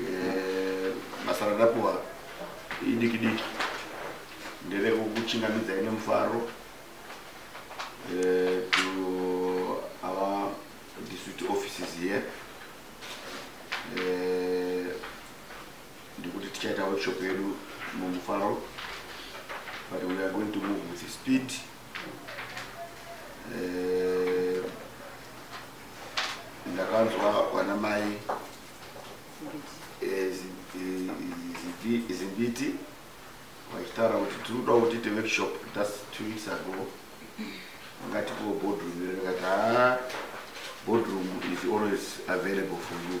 eh, basa randapuwa idiki diki nderekukuchingamidza ine mufaro eh, to our district offices here eh, ndikuti tichaita workshop yedu mumufaro but we are going to move with speed ndakanzwa vana mai eh, eh, zimbiti vachitaura kuti tiri kuda kuti tiite workshop just two weeks ago ungatipiwo boardroom iri ndikati haa boardroom is always available for you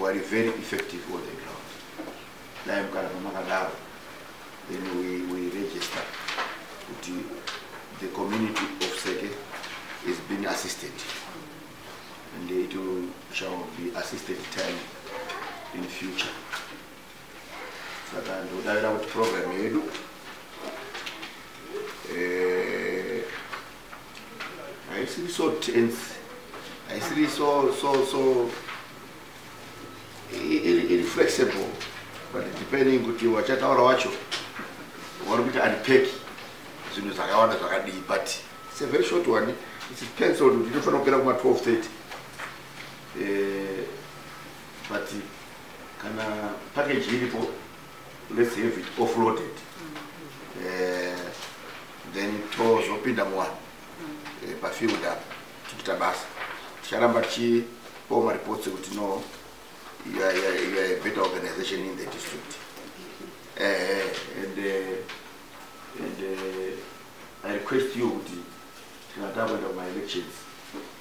wari very effective on the ground dai kana pamakadaro then we, we register kuti the community of seke is being assisted and it will, shall be assisted time in future saka ndodavira kuti program yedu eh, haisiri so tense haisiri so so so iri flexible but depending kuti wachataura wacho wari kuita andipeki zvinhu zvakawanda zvakadii but it's a very short one its pencil kuti inofanira kupera kuma 12 30 eh, but kana package iripo let's have it offloaded eh, then tozopinda muwanhu eh, pafield apa tichita basa ticharamba tichipawo mareports ekuti no you are, you are, you are a better organization in the district eh, eh and, uh, and uh, i request you kuti tikana takuenda kumaelections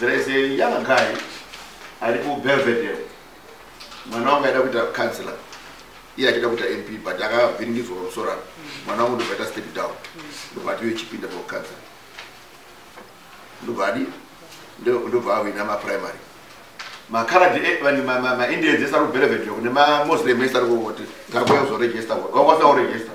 There is a young guy ari ku Belvedere. Mwana wangu aida kuita counselor. Iye achida kuita MP but akavhiringidzwa pamusoro apo. Mwana wangu ndobva aita step down. Ndobva ati yochipinda for counselor. Ndobva adi ndobva awina ma primary. Ma Karad eh, vani ma ma, ma Indians esari ku Belvedere kune ma Muslim esari ku kuti ngakuya kuzoregister. Wangwasa kuregister.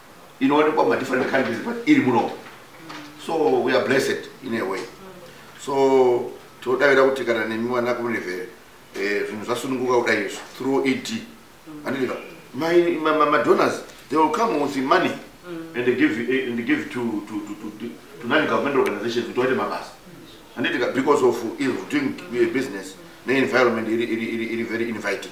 inowanikwa ma different countries but iri muno so we are blessed in a way so tinodavira kuti kana nemi vana kumunevhere eh, zvinhu zvasununguka kudai izvo through ed andiva madonors they will come with money mm. and give, eh, and give to, to, to, to, to, to non government organizations kuti waite mabasa anditika because of is doing eh, business ne environment iri, iri, iri, iri very inviting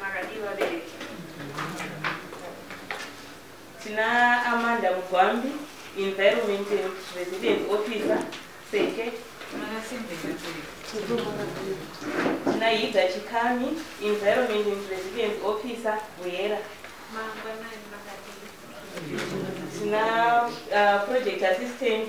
Makadii vabereki? Tina Amanda Mugwambi, Environment and Resident Officer, Seke. Tina Hida Chikami, Environment and Resident Officer, Buyera. Tina uh, Project Assistant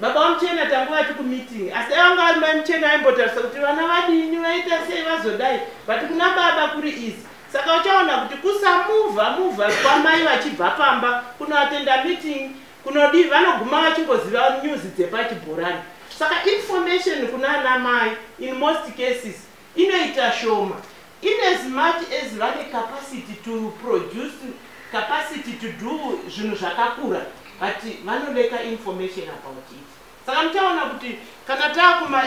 Baba vamuchena tangu vati kumeeting asi dai vanga vari mai muchena aimbotarisa kuti vana vadini vaita sei vazodai but kuna baba kuri easy saka uchaona kuti kusamuvha muvha kwamai vachibva pamba kunoatenda meeting kunodii vanoguma vachingoziva news dzepachibhorani saka information kuna ana mai in most cases Inoita shoma in as much as vane capacity to produce, capacity to do zvinhu zvakakura but vanoleka information about it. Saka muchaona kuti kana taakuma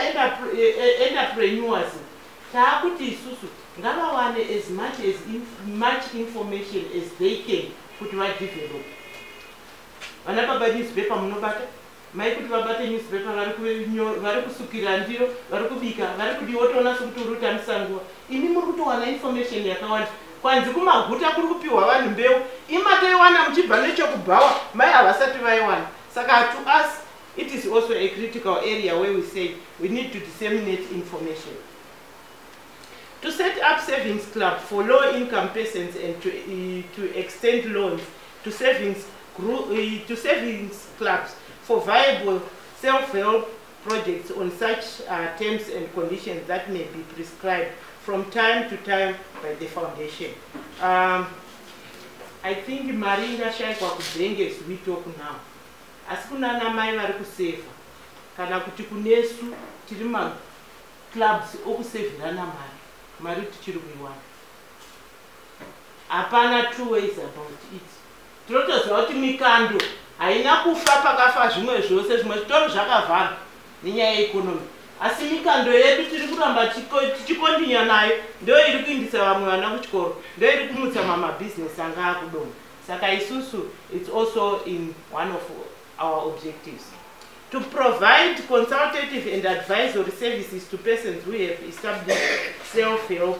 entrepreneurs taakuti isusu ngavawane as much as in, much information as they can kuti vadevelop. Vana baba newspaper munobata Mai kuti vabate newspaper vari kunyo- vari kusukira ndiro vari kubika vari kudii wotoona sekuti uri kutambisa nguva imi muri kutowana information yakawanda kwanzi kumaguta kuri kupiwa vanhu mbeu imatoiwana muchibva nechokubhawa mai havasati vaiwana saka to us it is also a critical area where we say we need to disseminate information to set up savings club for low income persons and to, eh, to extend loans to savings, group, uh, eh, to savings clubs for viable self-help projects on such uh, terms and conditions that may be prescribed from time to time by the foundation. Um, I think mari ingashayikwa kudhenge as we talk now. Asi kunana mai vari kuseva kana kuti kunesu tiri ma clubs okusevirana mari mari tichiri kuiwana hapana two ways about it tinotoziva kuti mikando haina kufa pakafa zvimwe zvose zvimwe zvitori zvakavharwa nenyaya yeekonomi asi mikando yedu tiri kuramba tichikondinya nayo ndo iri kuindisa vamwe vana kuchikoro ndo iri kumutsa mamabhizinesi anga akudoma saka isusu its also in one of our objectives to provide consultative and advisory services to persons who have established self help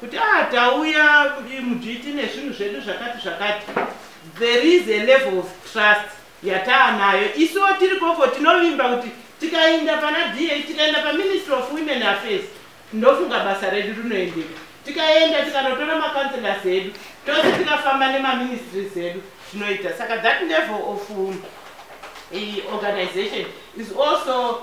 kuti ah tauya kuti mudhiti nezvinhu zvedu zvakati zvakati there is a level of trust yataanayo isuwo tiri koko tinovimba kuti tikainda pana da tikaenda paministry of women affairs ndofunga basa redu rinoendeka tikaenda tikanotora macounselors edu tose tikafamba nemaministries edu zvinoita saka that level of um, eh, organization is also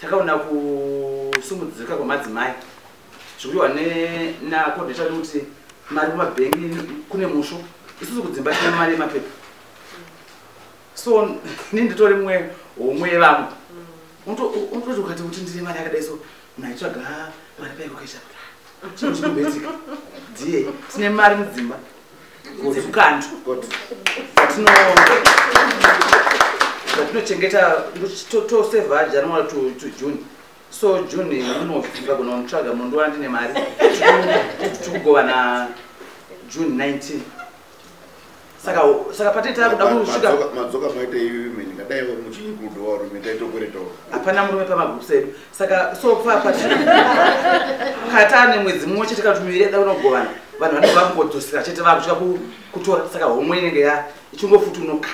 takaona kusungudzika kwemadzimai zvikuiwa nakodheta kuti mari kumabhengi kune musho isusu kudzimba tina mari yemapepa so ni nditori mumwe homwe yevamwe unototi ukati kuti ndine mari yakadai so naitsvaga mari paikukaisha chinhu chinobetika die tine mari mudzimba dzekukanda zvatinochengeta toseva january to june so june munoagona mutsvaga mundiwa ndine mari tikugovana june 19 saka saka patee takuda kusvikamadzoka maita iwe mene ngadai muchii kudowa rume taitokwere to hapana murume pamagroups edu saka so papa kata ane mwedzi mumwe chete kana kuti miviri yada unogovana vanhu vanenge vangodzosera chete vakutya kutora saka homwe inenge ya ichingofutunuka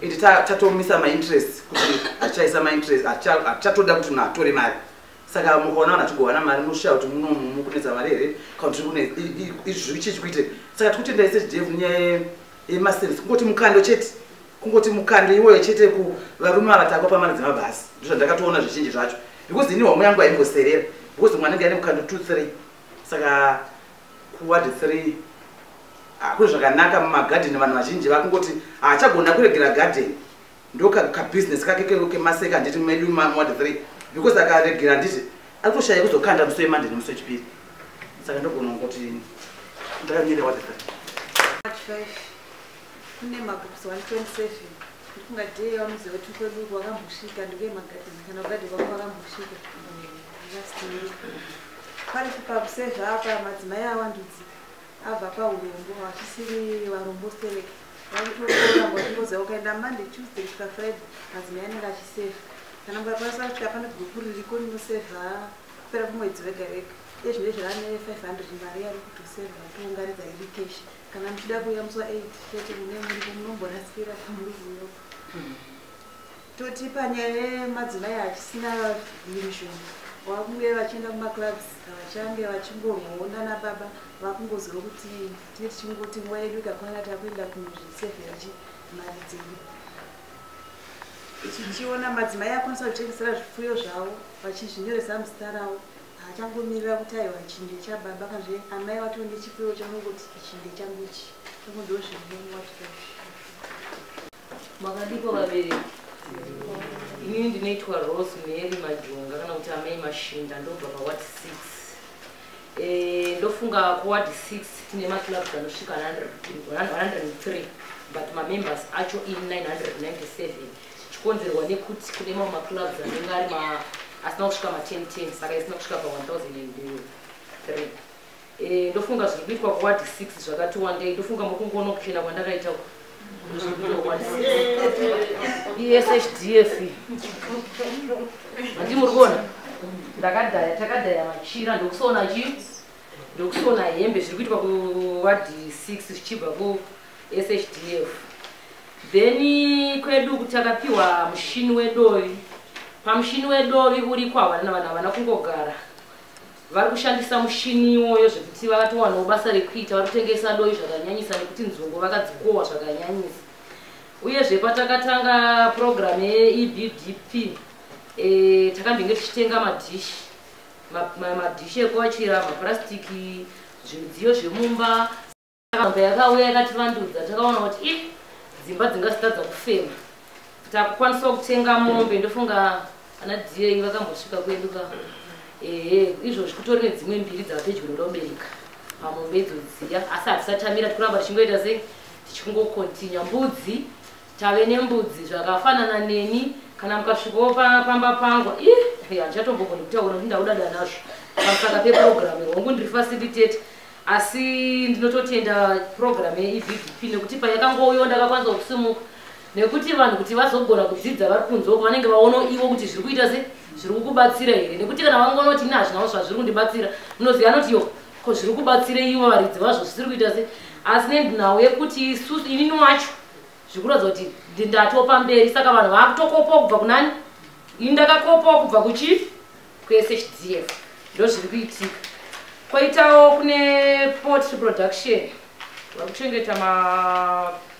ende tatomisa mainterest kuti hatichaisa mainterest hatichatoda kuti munhu atore mari saka mukaona vanhu atigovana mari munoshaya kuti munomu mukunetsa mari here kana kuti kune izvi zvichichikuite saka tikutendai sechidevhu nyaya yemasense kungoti mukando chete kungoti mukande iwoyo chete kuvarume vavatako pamari dzemabhasi ndozvandakatoona zvizhinji zvacho because ini homwe yangu haimboserera because mwana anenge ane mukando two three saka kuwadi three hakune zvakanaka mumagadheni vanhu vazhinji vakungoti haachagona ah, kuregera gadheni ndokabusiness kake kemaseka handiti medu muwadi three because akaregera handiti akutoshaya kuzokanda musi wemande nemusi wechipiri saka ndogona kuti ndakanyere wadi three kune magroups 127 ndikunga dee yawamuziva kuti kwedu wakambosvika ndikuye magadheni kana kugadheni kwako wakambosvika pari chipapu sezvaapa madzimai awandudzi abva paurombo vachisiri varombo sterek vakutooramba vachingoziva ukaenda monday tuesday kusvika friday madzimai anenge achiseva kana mukakwanisa kusvika pane gurupu ririko rinoseva kupera kumwedzi vega vega ezvine zvane 500 mari yari kutoseva vatoungaridza iri keshi kana muchida kuyambiswa 8 chete mune muripo munomborasikira pamuruvuyo toti panyaya yemadzimai achisina mishoni vakunge vachienda kumaclubs havachange vachingorwonda nababa vakungoziva kuti tine tichingoti nguva yedu ikakwana takuenda kunozvisevhera chi mari dzedu tichiona madzimai akwanisa kuchengesera zvipfuyo zvavo vachizvinyoresa muzita ravo haachangomirira kuti aiwa ichi ndechababa kanzve amai vato nechipiro chanongoti ichi ndechangu ichi makadiko vabereki inini ndinoitwa rose mary majonga kana kuti amai mashinda ndobva paward six eh, ndofunga kuward six tine maclubs anosvika 103 but mamembers acho in 997 zvichikonzerwa nekuti kune mamwe maclubs anenge ari ma asina kusvika ma10 10 saka isina kusvika pa 1003 eh, ndofunga zviri kuitwa kuward 6 zvakati wandei ndofunga mokungoona kuchena kwandakaita eshdf andi muri kuona ndakadhaya takadhaya machira ndokusoona chii ndokusona hembe zviri kuitwa kuward 6 zvichibva kushdf then kwedu kuti akapiwa mushini wedovi pamushini wedovi uriko havana vanhu havana kungogara vari kushandisa mushini iwoyo zvekuti vakatowanawo basa rekuita vari kutengesa dovi zvakanyanyisa nekuti nzungu vakadzikowa zvakanyanyisa uyezve patakatanga purogiramu yeebdp e, takambenge tichitenga madhishi madhishi ekuwachira mapurasitiki zvimudziyo zvemumba saka yakauya yakativandudza takaona kuti i dzimba dzingazitadza kufema takukwanisawo kutenga mombe ndofunga ana diyei vakambosvika kwedu ka ehe izvozvi kutori nedzimwe mbiri dzavapedyo noda kubereka pamombe idzo dziya asi hatisatamira tikuramba tichingoita sei tichingokontinya mbudzi tave nembudzi zvakafanana neni kana mukasvikawo pamba pangu ih handichatombogoni kutaura kuti ndauda danazvo pasaka peprogramu hongu ndiri fasilitete asi ndinototenda program yeevdp nekuti payakangouyo ndakakwanisa kusimuka nekuti vanhu kuti vazogona kudzidza vari kunze uko vanenge vaono ivo kuti zviri kuita se zviri kukubatsira here nekuti kana vangonoti ini hazvinawo zvazviri kundibatsira munoziva anoti yo ko zviri kubatsira ivo varidzi vazvo zvisiri kuita se asi nendinawo yekuti isusu inini wacho zvikuratidza kuti ndatopa mberi saka vanhu vakutokopawo kubva kunani ini ndakakopawo kubva kuchief kuSHDF ndozviri kuitika koitawo kune potry production vari kuchengeta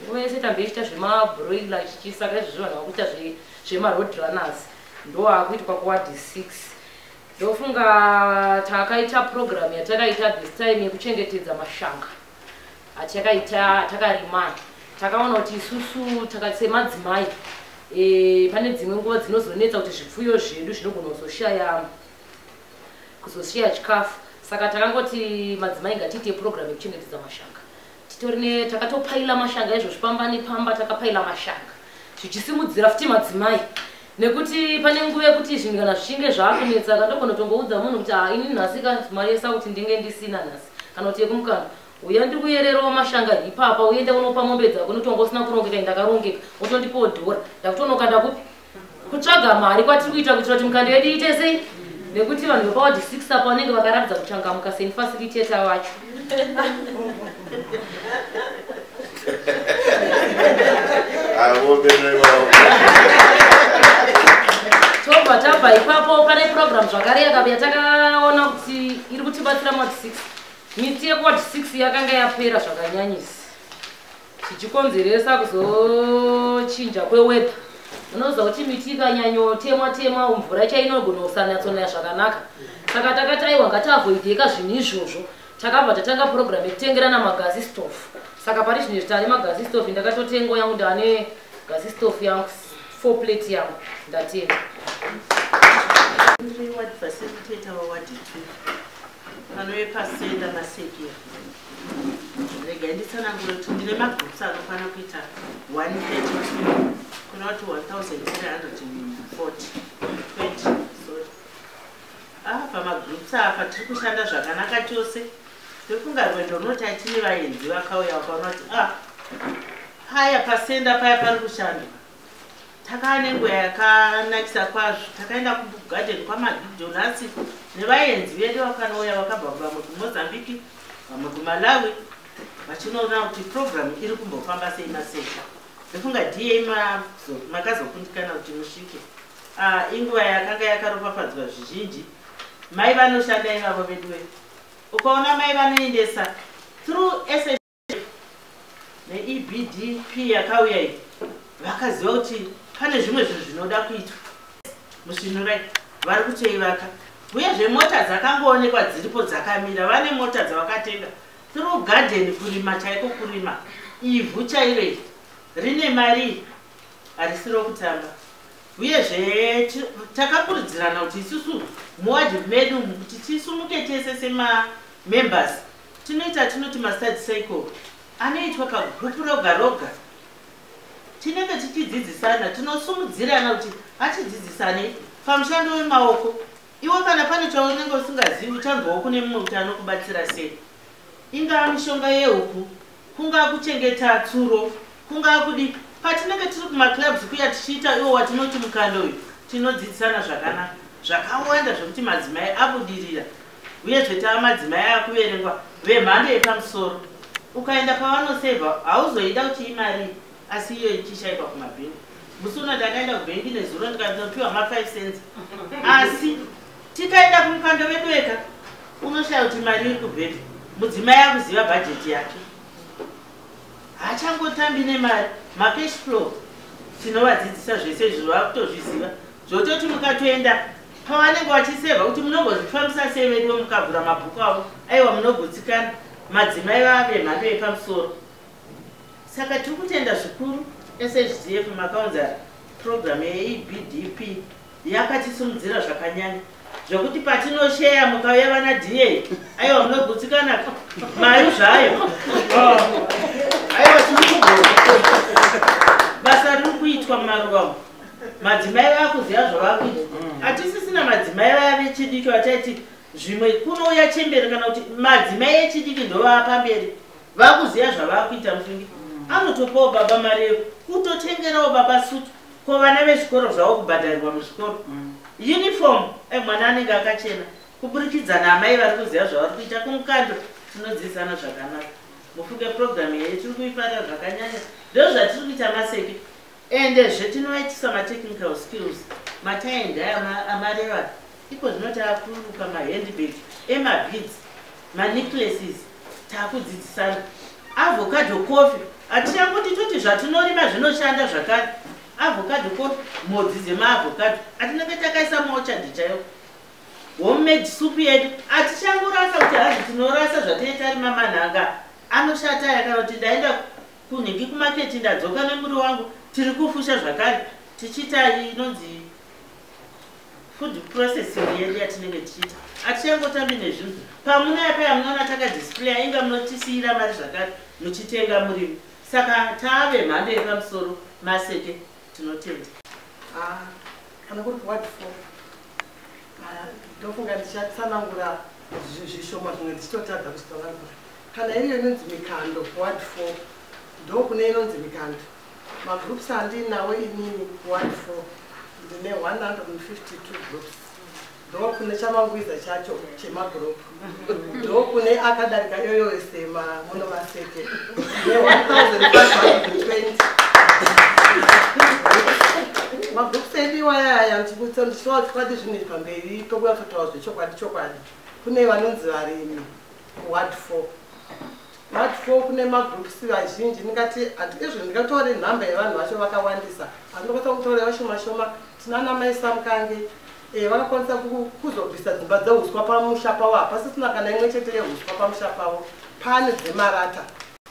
nguva yese tambe ichiita zvemabroiler chichisaka izvozvo vanhu vakuita zvemaroad runners ndoakuitwa kuwadi six ndofunga takaita program yatakaita this time yekuchengetedza mashanga hatakaita takarima takaona kuti isusu takasemadzimai e, pane dzimwe nguva dzinozonetsa kuti zvipfuyo zvedu zvinogona kuzoshaya kuzoshaya chikafu saka takangoti madzimai ngatiite purogiramu yekuchengetedza mashanga titorine takatopaila mashanga izvozvi pamba nepamba takapaila mashanga zvichisimudzira futi madzimai nekuti pane nguva yekuti zvinhu kana zvichinge zvakunetsa katogona tongoudza munhu kuti ah, ini nhasi ka mari yesa kuti ndinge ndisina nhasi kana kuti yekumukana uya ndiri kuyererawo mashanga ipapa uenda unopa mombe dzako notonga usina kurongeka indakarongeka wotondipawo dhora ndakutonoka ndakupi kutsvaga mari kwatiri kuita kuitira kuti mikando yedu iite sei nekuti vanhu vepawadhi six apa vanenge vakaratidza kuchangamuka seinfacilitator vacho tobva tabva ipapo pane program zvakare yakabuya takaona kuti iri kutibatsira mati 6 miti yekuwati 6 yakanga yapera zvakanyanyisa zvichikonzeresa kuzochinja kwewedha unoziva kuti miti ikanyanyotemwa temwa mvura chainogona kusanatsonaya zvakanaka saka takati aiwa ngatavoideka zvinhu izvozvo takabva tatanga purogiramu yekutengerana magazi stof saka pari zvino zvitane magazi stof ndakatotengo yangu ndane gazi stof yangu four plate yangu ndatenga Pano yepasenda masekera. Rega nditsanangure kuti ndine magroups anokwana kuita 132 kuna kuti 1340 20 pamagroups apa tiri kushanda zvakanaka chose ndofunga rwendo runoti atine vaenzi vakauya vakaona kuti a ah, paya pasenda paya pari kushandwa Takava nenguva yakanakisa kwazvo. Takaenda kugarden kwaMabig Donuts nevaenzi vedu vakanouya vakabva vamwe kuMozambique, vamwe kuMalawi vachinoona kuti program iri kumbofamba sei masesha. Ndofunga DA makazokundikana kuti musvike. Ah, inguva yakanga yakaropafadzwa zvizhinji. Mai vanoshanda ivavo veduwe. Ukaona mai vanoendesa through neebdp yakauya iyi vakaziva kuti pane zvimwe zvinhu zvinoda kuitwa musvinurai vari kutoivaka uyezve mota dzakangoonekwa dziripo dzakamira vane mota dzavakatenga through garden kurima chaiko kurima ivhu chairo iri rine mari harisi rokutamba uyezve takakurudzirana kuti isusu muwadhi medu kuti tisumuke tese semamembers Tinoita atinoti mastudy cycle anoitwa pagrupu roga roga. Tinenge tichidzidzisana, tinosumudzirana kuti achidzidzisane pamushando wemaoko. Iwe kana pane chaunenge usingazivi uchanzwawo kune mumwe kuti anokubatsira sei. Ingaa mishonga yehuku, kungaa kuchengeta tsuro, kungaa kudi. Patinenge tiri kumaclubs kuya tichiita iwo watinoti mukando uyu, tinodzidzisana zvakanaka zvakawanda zvekuti madzimai abudirira uyezve tava madzimai akuverengwa vemhando yepamusoro ukaenda pavanoseva hauzoida kuti imari asi iyo ichishaikwa kumabhingu musi uno ndakaenda kubhengi nezuro ndikanopiwa ma5 cents asi tikaenda kumukando vedu eka unoshaya kuti mari iri kubhedha mudzimai akuziva bhajeti yake haachangotambi nemari macash flow tinovadzidzisa zvese izvo vakutozviziva zvototi mukatoenda pavanenge vachiseva kuti munogozvifambisa sei veduwe mukavhura mabhuku avo aiwa munogutsikana madzimai vava vemhando yepamusoro saka tiri kutenda zvikuru shdf makaunza purogiramu yeebdp yakatisimudzira zvakanyanya zvekuti patinosheya mukauya vana da aiwa munogutsikana mari zvayo oh. aiwa tiri kugona basa riri kuitwa mumaruva madzimai vakuziva zvavakuita mm. hatisisina madzimai vaya vechidiki vachaiti zvimwe kunouya chemberi kana kuti madzimai echidiki ndovaa pamberi vakuziva zvavakuita mufungi mm. anotopawo baba mari yeko kutotengerawo baba sutu ko vana vezvikoro zvavo kubhadharirwa muzvikoro mm. uniform emwana eh, anenge akachena kuburikidza naamai vari kuziva zvavari kuita kumukando tinodzidzisana zvakanaka mufunge purogiramu yeye tiri kuifarira zvakanyanya ndozvatiri kuita maseki Ende zve tinoitisa ma technical skills matie ndaya ama, amareva iko zvino takuruka ma handbag ema beads ma necklaces takudzidzisana avocado coffee atichanguti toti zvatinorima zvinoshanda zvakare avocado coffee mhodzi dzema avocado atinenge takaisa maochadi chaiwo homemade soup yedu atichangorasa kuti hazvi tinorasa zvataitarima manhanga anoshata yakanoti ndaenda Kunhingi kumarket ndadzoka nemuri wangu tiri kufusha zvakare tichiita inonzi food processing yedu yatinenge tichiita atichangotambi nezvinhu pamunaya paya munoona takadisplaya inga munotisiyira mari zvakare muchitenga murimi saka tave mhando yepamusoro maseke tinotenda ah, kana kuri kuward four ah, ndofunga ndichatsanangura zvishoma zvimwe ndichitotadza kuzvitsanangura Kana iriyo inonzi mikando ward 4 ndo kune inonzi mikando magroups andinawo inini ward 4 ndine 152 groups ndo kune chamangwiza chacho chemagroup ndo kune akadarika iyoyo ese mamuno maseke ne 1520 magroups edu iwaya aya ndikuti ndichiwa chokwadi zvinhu pamberi pokuya kutaura zvechokwadi chokwadi kune vanonzi varimi what for what for kune magroups vazhinji ndingati hatikezvo ndingatore nhamba yevanhu vacho vakawandisa asi ndokwanisa kutora vashoma shoma tinana mai samkange eh, vakakwanisa kuzobvisa dzimba dzeuswa pamusha pavo hapasisina kana imwe chete yeuswa pamusha pavo pane dzemarata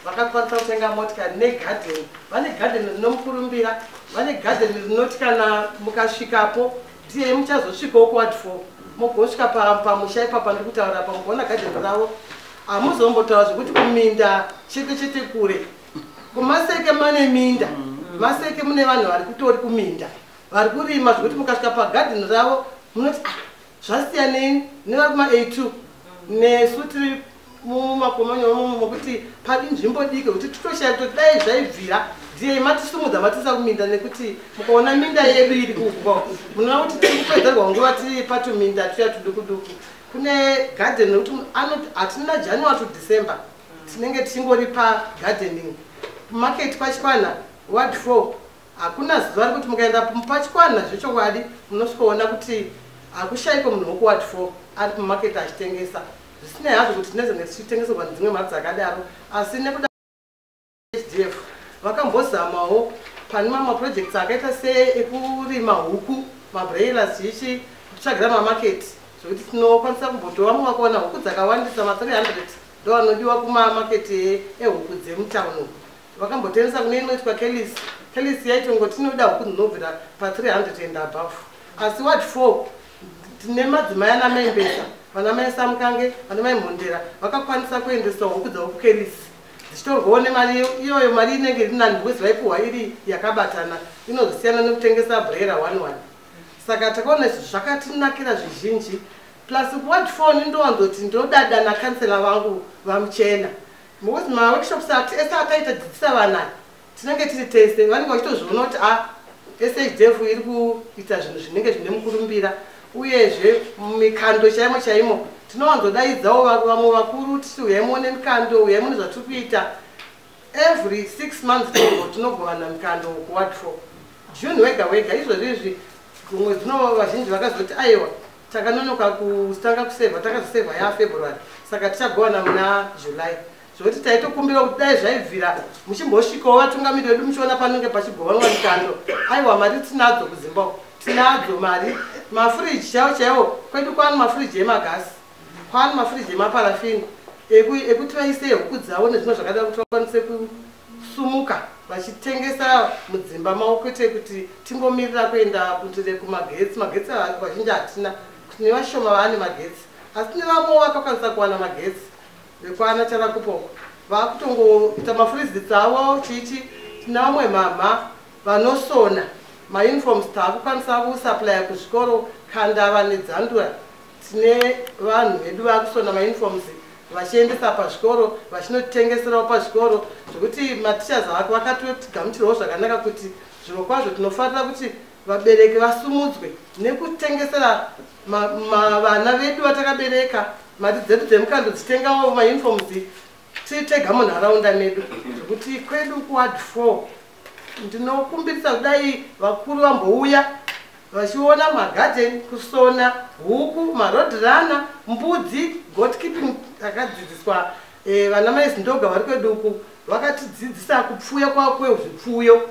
vakakwanisa kutenga motikari negadheni vane gadheni rinomukurumbira vane gadheni rinoti kana mukasvikapo Ndiye muchazosvikawo kuward four mugosvika pamusha ipapa ndiri kutaura pa mugoona gadheni ravo hamuzombotaura zvekuti kuminda chete chete kure kumaseke mane minda maseke mune vanhu vari kutori kuminda vari kurima zvekuti mukasvika pagadheni ravo munoti ah, zvasiyanei nevari kuma a two nesu tiri mumakomanya umomo mokuti padi nzvimbo diki kuti titoshaya kuti dai zvaibvira diyei matisumudza matisa kuminda nekuti mukaona minda yedu iri kugwa munoona kuti tiri kupedzerwa nguva tiri patuminda tuya tudukuduku kune garden nekuti anoti hatina january to december tinenge tichingori pagardening market pachikwana ward four Hakuna zuva rekuti mukaenda pachikwana zvechokwadi munosvikoona kuti hakushaiko munhu wokuward four ari mumaketi achitengesa zvisinei hazvo kuti tinezenge tichitengeserwa nedzimwe mari dzakadaro asi nekuda hdf vakambozamawo pane mamwe maprojects akaita seekurima huku mabrailas chichi kutsvagira mamaketi zvekuti tinokwanisa kumbotova mumwe wakaona huku dzakawandisa ma 300 ndoanodiwa kumamaketi ehuku dzemutown uku vakambotengesa kune inoitwa kelis kelis yaitongoti inoda huku dzinobvira pa300 and above asi wat four tine madzimai ana mai mbesa vana mai samukange vana mai mhondera vakakwanisa kuendesa huku dzavo kukelis dzichitorwawo nemari iyoyo mari inenge iri nani because vaipiwa iri yakabatana inozosiyana nekutengesa brera one one saka takaona izvi zvakatinakira zvizhinji plus kuwat four nindowanzoti ndinodada nakansela vangu vamuchena Because ma workshops ati ese ataita dzidzisa vana tinenge tiri tese vanenge vachitozviona kuti a SHDF iri kuita zvinhu zvinenge zvine mukurumbira uyezve mikando chaimo chaimo tinowanzodaidzawo vamwe vakuru titi huyai muone mikando huyai mune zvatiri kuita every six months tinogovana mikando kuwatro june wega wega izvozvi izvi dzimwe dzino vazhinji vakazoti aiwa takanonoka kutanga kusevha takazosevha ya february saka tichagovana muna july zvekuti taitokumbira kuti dai zvaibvira muchimbosvikawo vatungamiri vedu muchiona panenge pachigovanwa mikando aiwa mari tinadzo kudzimba tinadzo mari mafuriji chaiwo chaiwo kwedu kwani mafuriji emagasi kwani mafuriji emaparafini ekuti vaise huku dzavo nezvimwe zvakadaro kuti vakwanise sumuka vachitengesa mudzimba mavo kwete kuti tingomirira kuenda kundire kumagetsi magetsi vazhinji hatina kuti nevashoma vaane magetsi asi nevamwe vakakwanisa kuwana magetsi vekwana charakupo vakutongoita mafurizits avo chichi tina vamwe mhamha vanosona mauniforms taakukwanisa kusaplya kuzvikoro kandava nedzandura tine vanhu vedu vakusona mauniforms vachiendesa pazvikoro vachinotitengeserawo pazvikoro zvekuti mateachers vako vakatotigamuchirawo zvakanaka kuti zvimwe kwazvo tinofarira kuti vabereki vasumudzwe nekutengesera vana vedu vatakabereka mari dzedu dzemukando dzitengawo mauniforms titega munharaunda medu zvekuti kwedu kuward four ndinokumbirisa kudai vakuru vambouya vachiona magarden kusona huku marodhirana mbudzi gotkeeping akadzidziswa eh, vana mai zindoga vari kwedu uku vakatidzidzisa kupfuya kwavo kwezvipfuyo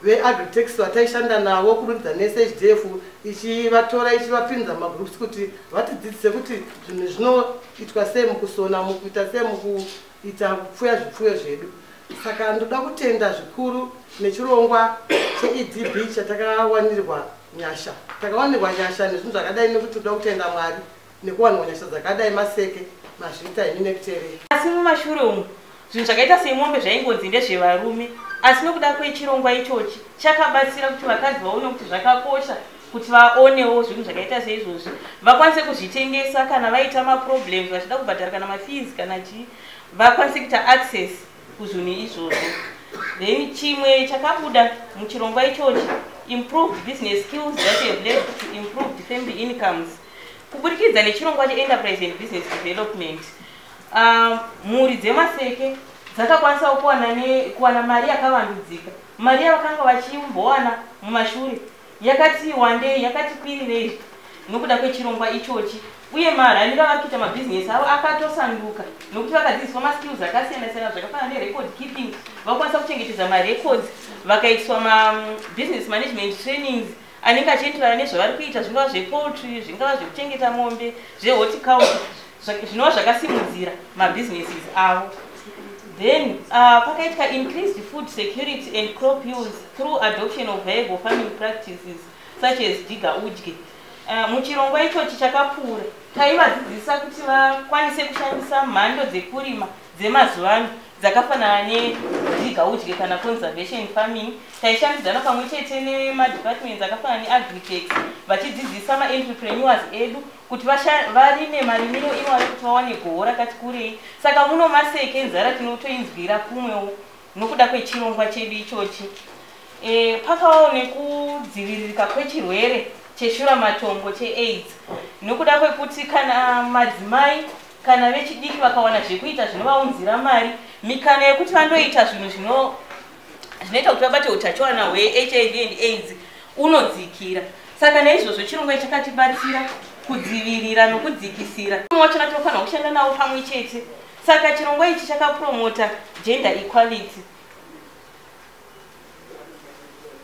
veagritex vataishanda navo kurudza nesahdf ichivatora ichivapinza magroups kuti vatidzidzise kuti zvinhu zvinoitwa sei mukusona mukuita sei muku ita kupfuya zvipfuyo zvedu saka ndoda kutenda zvikuru nechirongwa cheedb chatakawanirwa nyasha takawanirwa nyasha nezvinhu zvakadai nekuti toda kutenda mwari nekuwanirwa nyasha dzakadai maseke mazvita ini nekuterei asi mumashure umu zvinhu zvakaita semombe zvaingonzi ndezvevarume asi nokuda kwechirongwa ichochi chakabatsira kuti vakadzi vaone kuti zvakakosha kuti vaonewo zvinhu zvakaita seizvozvi vakwanise kuzvitengesa kana vaita maproblems vachida kubhadhara kana mafees kana chii vakwanise kuita access kuzvinhu izvozvo then chimwe chakabuda muchirongwa ichochi improved business skills that have led to improved family incomes kuburikidza nechirongwa cheenterprise and business development ah, mhuri dzemaseke dzakakwanisa kuwana mari yakavandudzika mari yavakanga vachimbowana mumashure yakati wandei, yakati kwirirei nokuda kwechirongwa ichochi uye maraniro avari kuita mabhizinesi avo akatosanduka nokuti vakadzidziswa maskills akasiyana siyana zvakafanana nerecord keeping vakwanisa kuchengetedza marecords vakaiswa mabusiness management trainings anenge achienderana nezvavari kuita zvingava zvepoultry zvingava zvekuchengeta mombe zvehorticulture zvinova zvakasimudzira mabusinesses avo then uh, pakaitwa increased food security and crop use through adoption of viable farming practices such as diga udye uh, muchirongwa ichochi chakapfuura taivadzidzisa kuti vakwanise kushandisa mhando dzekurima dzemazuva ano dzakafanana nediga udye kana conservation farming taishandidzana pamwe chete nemadepartments akafanana neagritec vachidzidzisa maentrepreneurs edu kuti varime marimiro ivo ari kuti vawane goho rakati kurei saka muno maseke nzara tinotoinzwira kumwewo nokuda kwechirongwa chedu ichochi e, pakawawo nekudziviririka kwechirwere cheshura matongo cheaids nokuda kwekuti kana madzimai kana vechidiki vakawana zvekuita zvinovaunzira mari mikana yekuti vandoita zvinhu zvino zvinoita kuti vabate utachiwana hwehiv and aids unodzikira saka naizvozvo chirongwa chakatibatsira kudzivirira nokudzikisira umwe wacho natinofanira kushanda navo pamwe chete saka chirongwa ichi chakapromota gender equality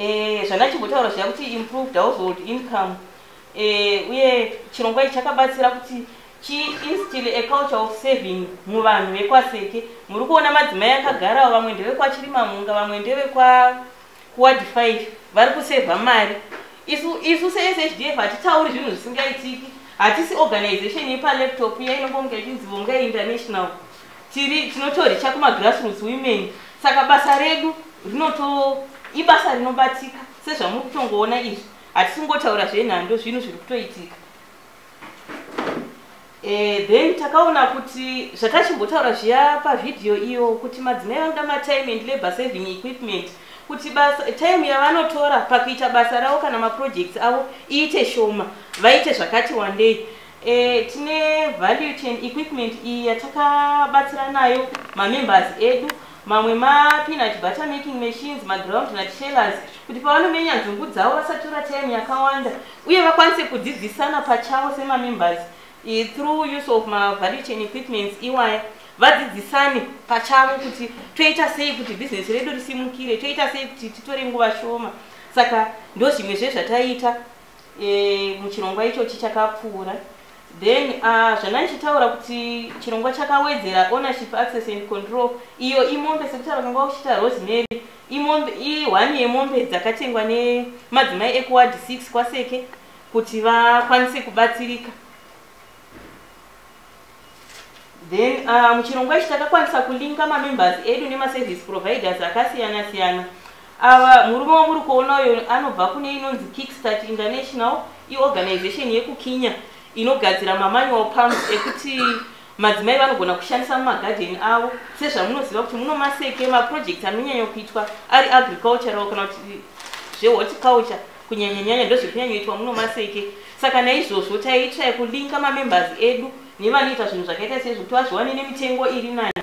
eh, zvanachimbotaura zviya kuti improved household income eh, uye chirongwa ichi chakabatsira kuti chiinstill a culture of saving muvanhu vekwaseke muri kuona madzimai akagarawo vamwe ndevekwachirimamhunga vamwe ndevekwakuward 5 vari kusevha mari isu isu seshdf hatitauri zvinhu zvisingaitiki hatisi organization yepalaptop iya inongonga ichinzi vongai international tiri tinotoricha kumagrassroots women saka basa redu rinoto ibasa rinobatika sezvamuri kutongoona izvi hatisingotaura zvenhando zvinhu zviri kutoitika e, then takaona kuti zvatachimbotaura zviya pavhidhiyo iyo kuti madzimai vanoda matime and labor saving equipment kuti basa time yavanotora pakuita basa ravo kana maprojects avo iite shoma vaite zvakati wandei E, tine value chain equipment iyi yatakabatsira nayo mamembers edu mamwe mapinut butter making machines maground nut shellers kuti pavanomenya nzungu dzavo vasatora time yakawanda uye vakwanise kudzidzisana pachavo semamembers e, through use of mavalue chain equipments iwaya vadzidzisane pachavo kuti toita sei kuti bhizinesi redu risimukire toita sei kuti titore nguva shoma saka ndozvimwe zvezvataiita e, muchirongwa ichochi chakapfuura then uh, zvandandichitaura kuti chirongwa chakawedzera ownership access and control iyo imombe sekuti vakanga vakuchiita rosemary imombe ihwani yemombe dzakatengwa nemadzimai ekuward six kwaseke kuti vakwanise kubatsirika Then uh, muchirongwa ichi takakwanisa kulinka mamembers edu nemaservice providers akasiyana siyana. Ava murume wamuri kuona uyo anobva kune inonzi Kickstart International, iorganization yekuKenya inogadzira mamanual pumps ekuti madzimai vanogona kushandisa mumagadheni avo sezvamunoziva kuti muno maseke maprojects anonyanya kuitwa ari agricultural kana kuti zvehorticulture kunyanyanyanya ndozviri kunyanyoitwa muno maseke saka naizvozvo taiitira yekulinka mamembers edu nevanoita zvinhu zvakaita seizvo kuti vazviwane nemitengo iri nani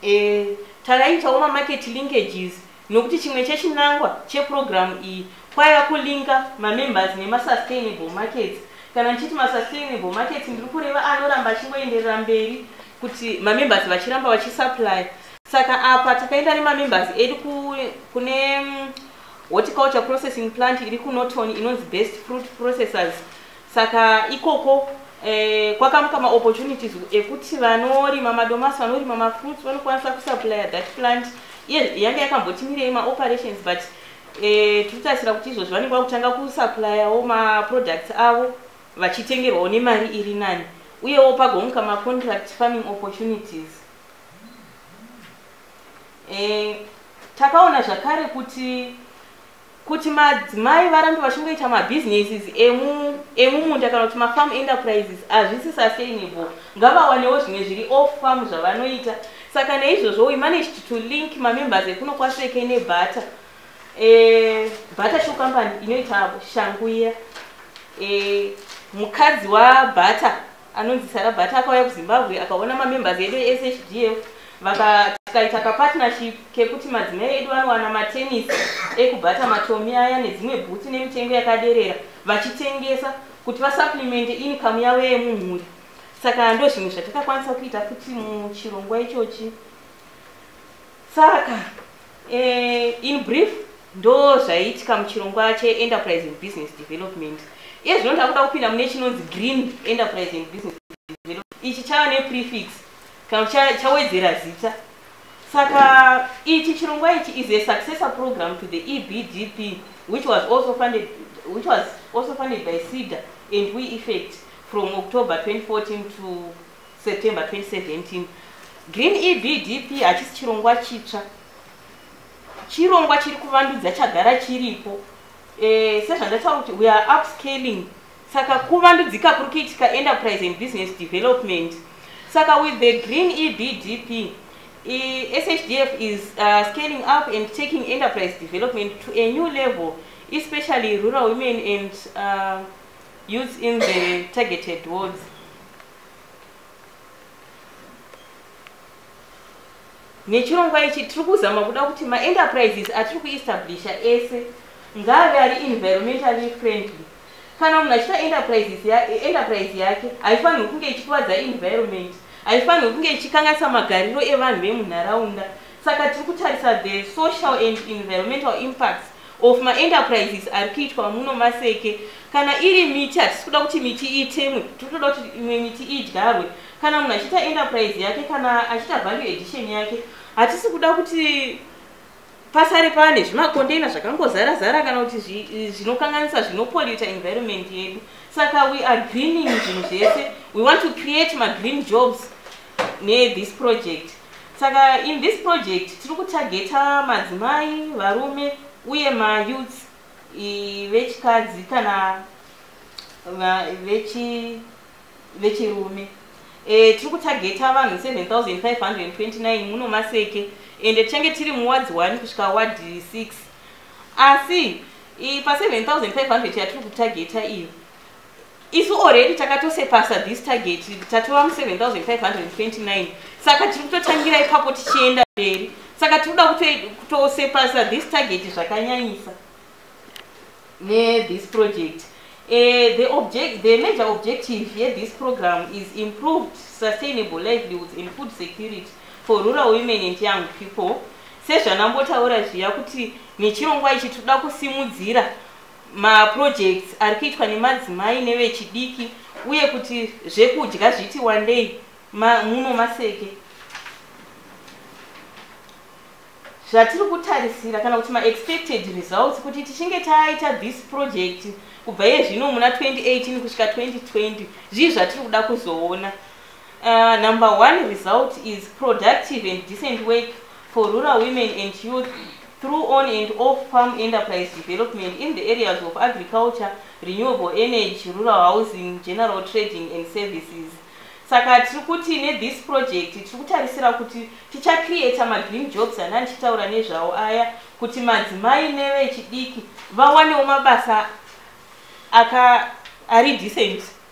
e, takaitawo mamarket linkages nokuti chimwe chechinangwa chepurogiramu iyi kwaiva kulinka mamembers nemasustainable markets kana ndichiti masustainable markets ndiri kureva anoramba achingoenderera mberi kuti mamembers vachiramba vachisupply saka apa takaenda nemamembers edu kune mm, horticulture processing plant iri kunoton inonzi best fruit processors saka ikoko eh, kwakamuka maopportunities ekuti vanorima madomasi vanorima mafruits vanokwanisa kusupply that plant iye yange yakambotimirei maoperations but eh, tiri kutarisira kuti izvozvo vanenge vakutanga kusupplyyawo maproducts avo vachitengerwawo nemari iri nani uyewo pagomuka macontract farming opportunities e, takaona zvakare kuti kuti madzimai varambe vachingoita mabusinesses emumunda kana kuti mafarm enterprises hazvisi sustainable ngavawanewo zvimwe zviri off farm zvavanoita saka neizvozvo we managed to link mamembers ekuno kwaseke nebutter Eh, butter shoe company inoita shangu iya eh, mukadzi wabutter anonzi sara butter akauya kuzimbabwe akaona mamembers edu eshdf tikaita kapartnership kekuti madzimai edu vanowana matenis ekubata matomi aya nedzimwe bhutsi nemitengo yakaderera vachitengesa kuti vasuplimente income yavo yemumhuri saka ndo zvimwe zvatakakwanisa kuita futi muchirongwa ichochi Saka eh, in brief ndo zvaiitika muchirongwa cheenterprise and business development iye zvino takuda kupinda mune chinonzi green enterprise and business development ichi chava neprefix kana chawedzera zita saka ichi chirongwa ichi is a successor program to the ebdp which was also funded, which was also funded by ceda and we effect from october 2014 to September 2017 Green EBDP hachisi chirongwa chitsva chirongwa chiri kuvandudza chagara chiripo e, sezvandataura kuti we are upscaling saka kuvandudzika kuri kuitika enterprise and business development saka with the green ebdp e, shdf is uh, scaling up and taking enterprise development to a new level especially rural women and uh, Youths in the targeted wards. nechirongwa ichi tiri kuzama kuda kuti maenterprises atiri kuestablisha ese ngaave ari environmentally friendly kana munhu achiita enterprises ya, enterprise yake haifanirwi kunge ichikuvadza environment haifanirwi kunge ichikanganisa magariro evanhu vemunharaunda saka tiri kutarisa the social and environmental impacts of maenterprises ari kuitwa muno maseke kana iri miti hatisi kuda kuti miti itemwe tiri kutoda kuti imwe miti idyarwe kana munhu achiita enterprise yake kana achiita value edition yake hatisi kuda kuti pasare pane zvimakondeina zvakangozara zara kana kuti zvinokanganisa zvinopoluta environment yedu saka we are greening zvinhu zvese we want to create magreen jobs nethis project saka in this project tiri kutageta madzimai varume uye mayouth vechikadzi kana vechirume e, tiri kutageta vanhu 7529 muno maseke ende tichange tiri muwadzi 1 kusvika wadhi 6 asi pa 7500 yatiri kutageta iyo isu already takatosepasa this target tatova mu 7529 saka tiri kutotangira ipapo tichienda mberi saka tiri kuda kutosepasa this target zvakanyanyisa nethis project Uh, the, object, the major objective here this program is improved sustainable livelihoods and food security for rural women and young people sezvanambotaura zviya kuti nechirongwa ichi tinoda kusimudzira maprojects ari kuitwa nemadzimai nevechidiki uye kuti zvekudya zviti wandei ma, muno maseke zvatiri kutarisira kana kuti maexpected results kuti tichinge taita this project kubva iye zvino muna 2018 kusvika 2020 zvii zvatiri kuda kuzoona uh, number one result is productive and decent work for rural women and youth through on and off palm enterprise development in the areas of agriculture, renewable energy, rural housing, general trading and services. Saka tiri kuti ne this project tiri kutarisira kuti ticha creator ma green jobs ana ndichitaura nezvawo aya kuti madzimai nevechidiki vawanewo mabasa aka ari decent.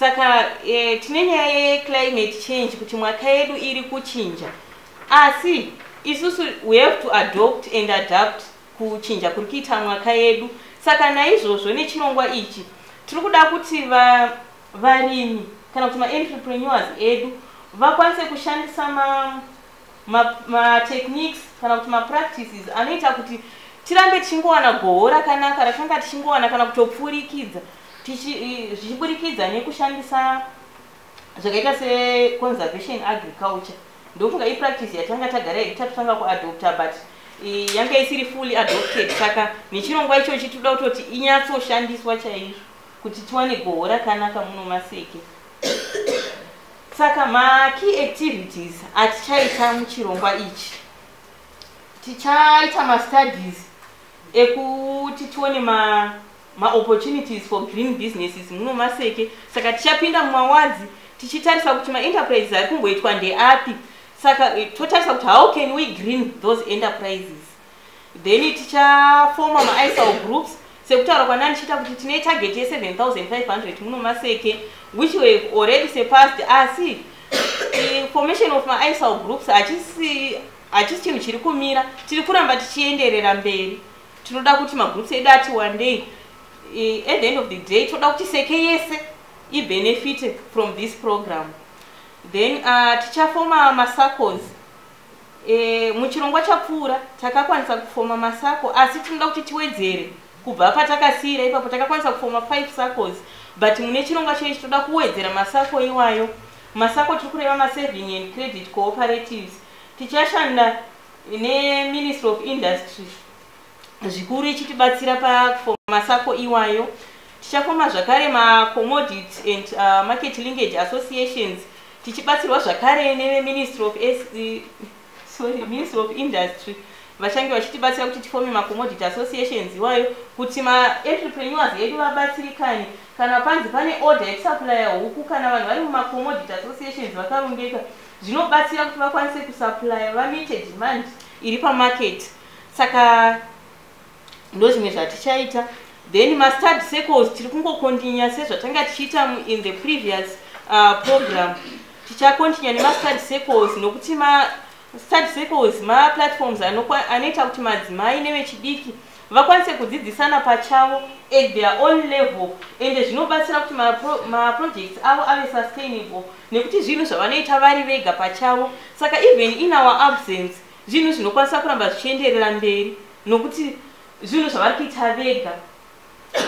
saka eh, tine nyaya yeclimate change kuti mwaka yedu iri kuchinja asi isusu we have to adopt and adapt kuchinja kuri kuita mwaka yedu saka naizvozvo nechinongwa ichi tiri kuda kuti va, varimi kana kuti maentrepreneurs edu vakwanise kushandisa ma matechniques ma kana kuti mapractices anoita kuti tirambe tichingowana goho rakanaka ratanga tichingowana kana kutopfurikidza zvichiburikidza nekushandisa zvakaita seconservation agriculture ndofunga ipractice yatanga tagara ita totanga kuadopta but yanga isiri fully adopted saka nechirongwa ichochi toda kutoti inyatsoshandiswa chaizvo kuti tiwane goho rakanaka muno maseke saka makey activities atichaita muchirongwa ichi tichaita mastudies ekuti tione ma maopportunities for green businesses muno maseke saka tichapinda mumawadzi tichitarisa kuti maenterprises ari kumboitwa ndeapi saka eh, totarisa kuti how can we green those enterprises then tichafoma maisal groups sekutaura kwanani chiita kuti tine target ye7500 muno maseke which were already surpassed asi ah, formation of maisal groups hachisi hachisi chinhu chiri kumira tiri kuramba tichienderera mberi tinoda kuti magroups edu ati one day at the end of the day toda kuti seke yese ibenefite from this program then uh, tichafoma masacos E, muchirongwa chapfuura takakwanisa kufoma masako asi tinoda kuti tiwedzere kubva patakasiira ipapo takakwanisa kufoma 5 sacos but mune chirongwa chechi toda kuwedzera masako iwayo masako tiri kureva masaving and credit cooperatives tichashanda neministry of industry zvikuru ichitibatsira pakufoma masako iwayo tichafoma zvakare macommodity and uh, market linkage associations tichibatsirwa zvakare neveministry of sorry ministry of industry vachange vachitibatsira kuti tifome macommodity associations iwayo kuti maentrepreneurs edu vabatsirikane kana panzi pane order yekusuplya huku kana vanhu vari mumacommodity associations vakarongeka zvinobatsira kuti vakwanise kusuplya vamite demand iri pamarket saka ndozvimwe zvatichaita then mastad circles tiri kungokontinya sezvatanga tichiita in the previous uh, program tichakontinya nemastad circles nokuti mastad circles maplatforms anoita kuti madzimai nevechidiki vakwanise kudzidzisana pachavo at their own level ende zvinobatsira kuti maprojects ma avo ave sustainable nekuti zvinhu zvavanoita vari vega pachavo saka even in our absence zvinhu zvinokwanisa kuramba zvichienderera mberi nokuti zvinhu zvavari kuita vega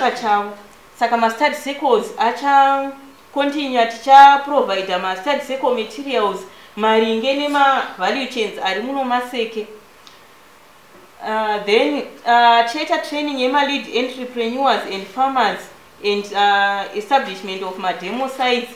pachavo saka mastudy circles achacontinua tichaprovidha mastudy circle materials maringe nemavalue chains ari muno maseke uh, then uh, tichaita uh, training yemalead entrepreneurs and farmers and uh, establishment of mademo sites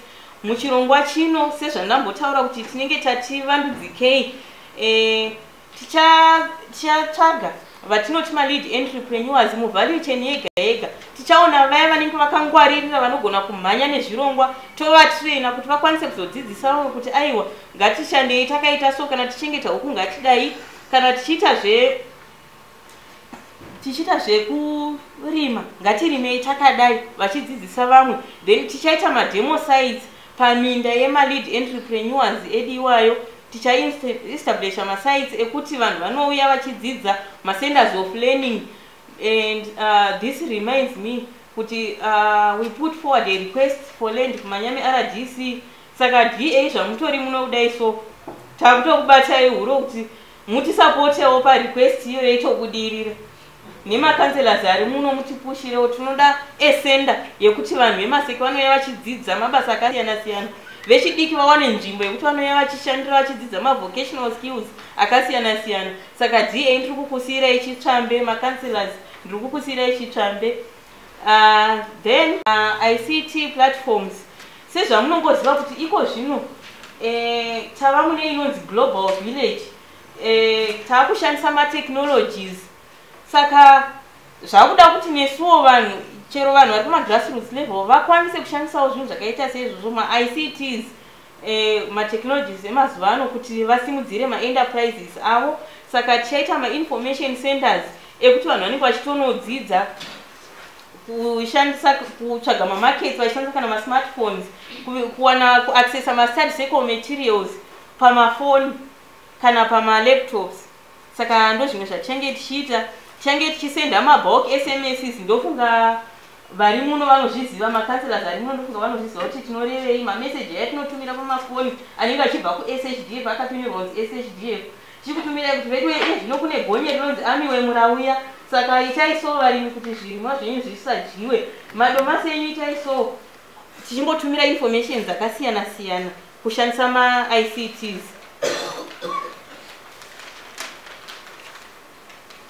muchirongwa chino sezvandambotaura kuti tinenge tati vandudzikei eh, tichatsvaga vatinoti malead entrepreneurs muvalue chain yega yega tichaona vaya vanenge vakangwaririra vanogona kumhanya nezvirongwa tovatraina kuti vakwanise kuzodzidzisa vamwe kuti aiwa ngatishandei takaita so kana tichengeta huku ngatidai kana tichiita zve tichiita zvekurima ngatirimei takadai vachidzidzisa vamwe then tichaita mademo sites paminda yemalead entrepreneurs edu iwayo tichaestablisha masites ekuti vanhu vanouya vachidzidza macenters of learning and uh, this reminds me kuti uh, we put forward a request for land kumanyame rdc saka dva zvamutori munoudai so takutokubatai huro kuti mutisapotewo parequest iyoyo itobudirira nemakanselors ari muno mutipushirewo tinoda esenda yekuti vanhu vemaseki vanouya vachidzidza mabasa akasiyana siyana vechidiki vawane nzvimbo yekuti vanouya vachishandira vachidzidza mavocational skills akasiyana siyana saka da ndiri kukusiyirai chitsvambe makanselors ndiri kukusiyirai chitsvambe Uh, then uh, ict platforms sezvamunongoziva kuti iko zvino eh, tava mune inonzi global village eh, tava kushandisa matechnologies saka zvakuda kuti nesuwo vanhu chero vanhu vari kumagrassroots level vakwanise kushandisawo zvinhu zvakaita seizvozvo maicts eh, matechnologies emazuva ano kuti vasimudzire maenterprises avo saka tichaita mainformation centers ekuti vanhu vanenge vachitonodzidza kushandisa kutsvaga mamarkets vachishandisa kana masmartphones kuwana kuaccessa mastudy circle materials pamafoni kana pamalaptops saka ndozvimwe zvatichange tichiita tichange tichisenda mabulk sms ndofunga vari muno vanozviziva macancelors ari muno ndofunga vanozviziva kuti tinorevei mameseji aya tinotumira pamafoni anenge achibva kushdf akatunirwa kunzi shdf tichikutumirai kuti veduwe iye zvino kune gonye rinonzi amiwe murauya saka itai so varimi kuti zvirimwa zvenyu zvisadyiwe madomasi enyu itai so tichingotumira information dzakasiyana siyana kushandisa maicts